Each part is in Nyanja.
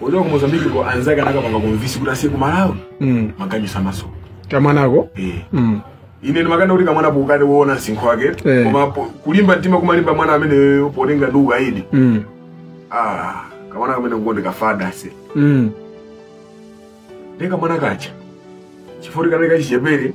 Ochokera ku Mozambique ko anzake anakampanga convince kuti azipita ku Malawi. Mm. Maganyu samasowa. Kamwanako? Eh. Mm. ine ndimakati kuti kamwana pokaona msinkhu wake Eh. koma po- kulimba mtima kumalimba mwana amene potengera ndi ukaidi Mm. ah, kamwana kamene ngondikhudza se Mm. ndi kamwana kaja chifukwa kanali kachichepere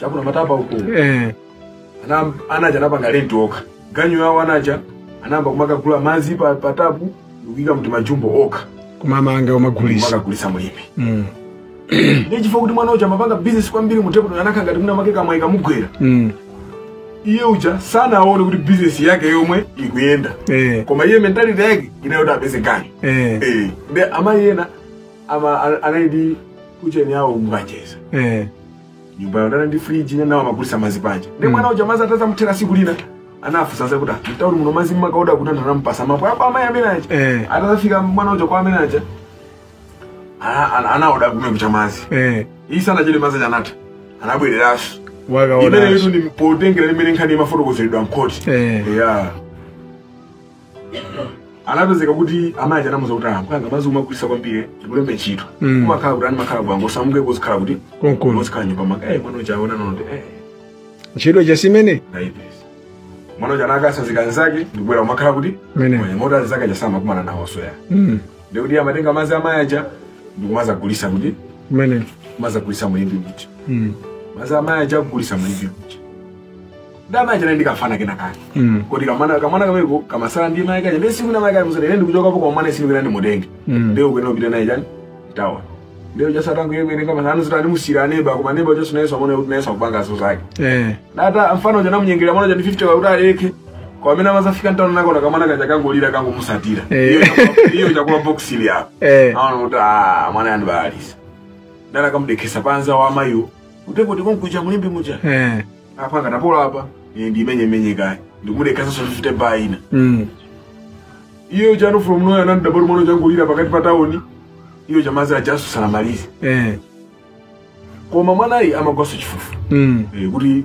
cha kuna Matapa uko eh ana anaja anapanga rent okha ganyu yawo anaja anayamba kumakagula madzi pa pa tap ndikuika m'timajumbo okha kumamanga umagulisa kumakagulitsa mu Limbe mm ndiye chifukwa kuti mwana uja amapanga business kwambiri mu table anakhala ngati mwina mwake kamwayi kamugwera mm iye uja sanaone kuti business yake yomwe ikuyenda eh koma iye mentality yake inali yoti apeze ganyu eh Eh, ndiye amayi ena ama- a- anali ndi kucheni yawo mukacheza eh nyumba yokhala ndi friji iwo nawo amagulisa mazi panja ndiye mm. mwana uja madzi atadzamuthera siku lina anafunsa za kuti ah, mtauni muno mazi mumakaoda kuti anthu anampasa mapu apa amayi amene aja eh. atazafika mwana uja kwa amayi aja anaoda komwe kuja mazi eh. iye sanachedwe mazi aja anatha anabwereranso imeneyo ndi potengera mmene nkhani imafotokozeredwa mkhoti eh. yeah. anapezeka kuti amayi aja anamuuza kuti amwanga mazi umagulisa kwambiri ndikulembe ntchito Mm. kumakhala kuti anu mumakhala bwanji mungosamuka kuzikhala kuti konkuno uzikhala m'nyumba mwanga eh mwana uja kuona no no eh ntchito ija si imene ndaipeza mwana uja anakatsanzika anzake ndikubwera kumakhala kuti Mene. mwenye moti anzake aja samakumana nawonso ayi Mm, ndikuti amatenga mazi amayi aja ndikumazagulisa kuti mmene amazagulisa mu Limbe kuti Mm. mazi amayi aja kugulisa mu Limbe kuti ndamanja naye ndikafana kena kake Mm. kuti kamwana kamwana kameko kamasala ndi mai kaja ndiye siku namai kaja musati ine ndikuchokapo kwa mwana sinu kena ndimutenge Mm. ndiye ukena upita naye chani tawa ndiye chasatangu yeye mwene kama sanu zitani musira neba koma neba chasu naye samona kuti naye sakupanga zo zake Eh. nata mfano uja namunyengerera mwana uja ndi 50 kuti aleke kwa amene amazafika ntano nakona kamwana kaja kangolira kangomusatira Eh. Iyo chakula- iyo chakula box ili apa Eh. aona kuti ah, mwana yandi baalisa ndana kamudekesa panza wa amayiwo utepo tikonkuja mulimbi muja Eh. apa akatapola apa ine ndiimenye kaye ndikumudekhasanso ndipite bar ina Mm. iyo ja from nowhere anangodabwa kuti mwana uja wangolira pakati pa tauni iye uja mazi ajaso sanamalize Eh. koma mwanayi amagwanso chifufu Mm. Eh, kuti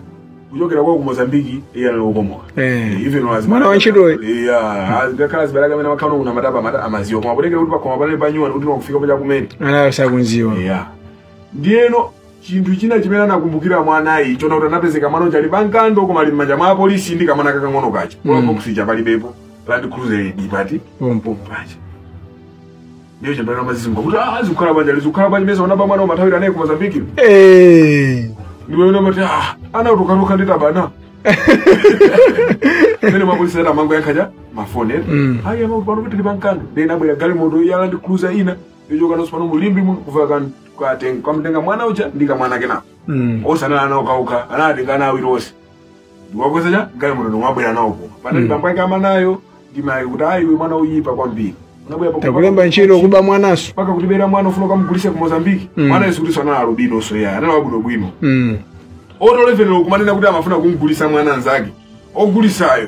kuchokera kwao ku mozambiki iye anali wokomoka Eh. Eh, even wazi- Mwana wa ntchitoyi. Eh, ah, ah, ngakhale azibale ake amene amakhala kuna mataba mata amaziwa koma potengera kuti pakoma panali pa nyuwani kuti wakufika paja kumene Ana sakunziwa. yeah. ndiyeno Chinthu china chimene anakumbukira mwanayi nchona kuti anapezeka mwana uja ali pa Nkando koma ali m'manja mwa apolisi ndi kamwana kakang'ono kaja Mm. mm. box ija palibepo land cruiser ili itafika pompo. paja ndiyo chimene amazizimuka kuti ah zikukhala bwanji zikukhala bwanji mesa unaba mwana umathawira naye ku Mozambique Eh. ndipo ina mati ah ana utokaluka ndi tawana mmene mapolisi ena amangoyankhana mafoni ena Mm. ayi amakuti pano kuti tili pa Nkando ndiye inabwera galimoto ya land cruiser ina kuchoka kuno tsopano mu Limbe muno kuka kan- katenga kamutenga mwana uja ndi kamwana kenaka Mm. onse anali ana okhaokha anawatenga ana awiri onse ndikuwakweza m'galimoto ndikubwera nawo kuno panali Mm. bambo ake a mwanayo ndi mayi kuti ayi uyu mwana woyipa kwambiri unabwera pa- takulemba ntchito kuba mwananso mpaka kutibera mwana ufuna ukamugulise ku mozambiki Mm. mwana yo sikuti anali alubinonso ayi anali wabwinobwino Mm. to the level yo kumanena kuti amafuna kumgulisa mwana mnzake ogulisayo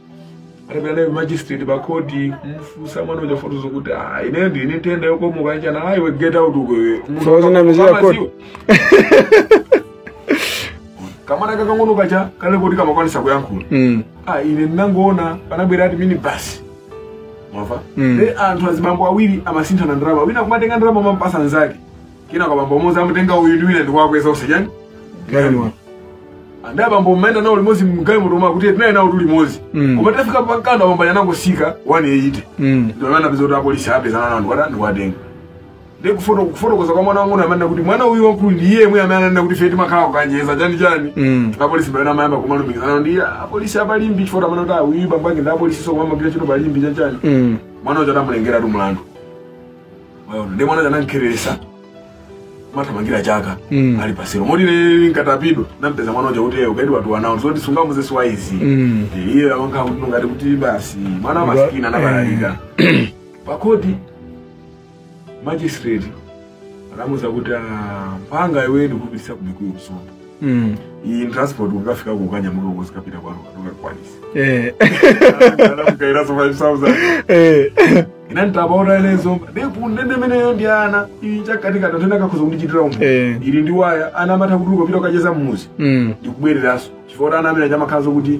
atapita magistrate pa khoti kumfunsa mwana uja fotozo kuti ah ine ndi ine nthenda yokomoka chani ah iwe get out uko iwe So zinamizira khoti. kamwana kakang'ono kaja kale kuti kamakwanisa kuyankhula Mm. ah ine ndinangoona panabwera ati mini basi mwamva Mm. nde anthu azibambo awiri amasinthana ndalama wina kumatenga ndalama mampasa nzake Kenako bambo mmodzi anamutenga uyu ndi wina ndikuwakweza onse chani? Galimoto. Nde abambo mmayenda nawo limodzi mgalimoto omwe akuti tinali nawo tuli limodzi. Mm. Koma tafika pa Nkando bambo anangotsika 180. Mm. Ndio maana pesa apolisi apezana nawo ndikuwate ndikuwatenga. Ndi kufoto kufotokoza kwa mwana wangu nde amanena kuti mwana uyu wamkulu ndi iyeyo amene ananena kuti feti makhala kukanjeza chani chani. Mm. Apolisi pena amayamba kumalumikizana ndi "Ah, apolisi apa Limbe chifukwa amanena kuti uyu bambo ake ndi apolisi so kumamagwira ntchito pa Limbe chani chani. Mm. Mwana uja atamulengera tu mlandu. Mwaona, ndiye mwana anamkweretsa wathamangira chaka Mm. ali pasiro moti ine nditapita ndinampeza mwana uja kuti ukaidi watu anawo zoti sungamuuze siwaizi Mm. Eh, iye amakhala kuti ngati kuti basi mwana wamasikini anabalalika pakhoti magistrate anamuza kuti "Ah, mwana iwe ndikupititsa ku Mikuyu ku Zomba mm. iyi transport ukafika kukanyamuka uzikapita kwanu katungakwanisi eh. anamuikiranso 5000 eh. ine nditapaona ineyo pa ndende imeneyo ndi ana ichakatikata tena kakhoza kundichitira umu eh. ili ndi waya ana amatha kuti ukapita ukacheza mmudzi mm. ndikubwereranso chifukwa ana amene aja amakhalanso kuti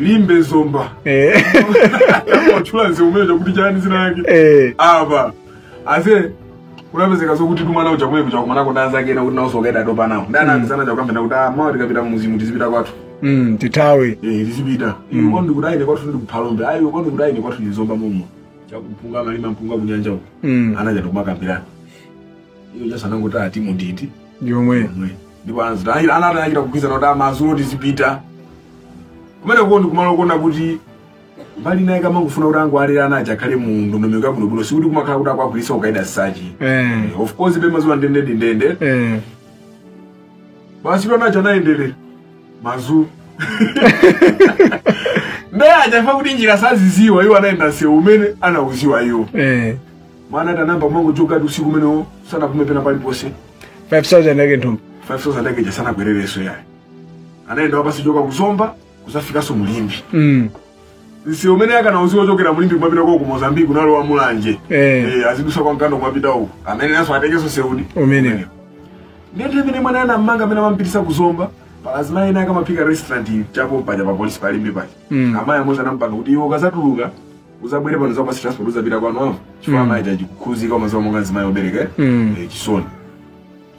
Limbe zomba Eh. watchula mseu umene uja kuti chani dzina yake Eh. apa basi kunapezeka zokuti mwana uja kumene kuja kumanako ndi anzake ena kuti nawo nso ukaidi atopa nawo ndi ana anzawo aja kukambirana kuti ah mawa tikapita mmudzimu tizipita kwathu Mm, titawe Eh, tizipita iwe kwanu ndikuti ah ine kwathu ndi ku Phalombe ayi iwe kwanu ndikuti ah ine kwathu ndi Zomba momwe cha kumpunga amalima mpunga kunyanja uko Mm. anaja tokumakambirana iyo chasanangoti ati munditi yomwe ndipo anadzati anati anachita kugwizana kuti amazulo tizipita kumeneko ndi kumalo kuona kuti mbali naye kama kufuna kuti angu alera ana aja akhale mu ndondomeko yabwinobwino sikuti kumakhala kuti akwagwiritsa ukaidi as such eh of course paja mmadziwa ndende ndi ndende eh basi ana aja anayendera mazu ndiye chifukwa kuti njira saidziwa iwo anayenda nsewu umene amaudziwa iwo eh mwana ati anayamba kungochoka ati usiku umenewo sanapume pena paliponse 5000 yake mthumba 5000 yake ija sanakwererenso ayi anayenda wapansi choka kuzomba kudzafikanso mu Limbe mm. mseu umene ankaudziwa kuchokera mu Limbe kumapita kwao ku mozambique kunali kwa Mulanje eh. eh, azidutsa kwa Nkando kumapita uku amene ndiye atengenso mseu umene ndithu mmene mwana anammanga mmene amampititsa kuzomba pali azimayi ena ankaphika restaurant chapompaja pa polisi pa Limbe paja mm. amayi amodzi anampanga kuti iwe ukazatuluka uzabwere pano ndidzakupatsa transport uzapita kwanu apo chifukwa mm. amayi aja anakhudzika mumadziwa monga nzimayi wobereka mm. eh, chisoni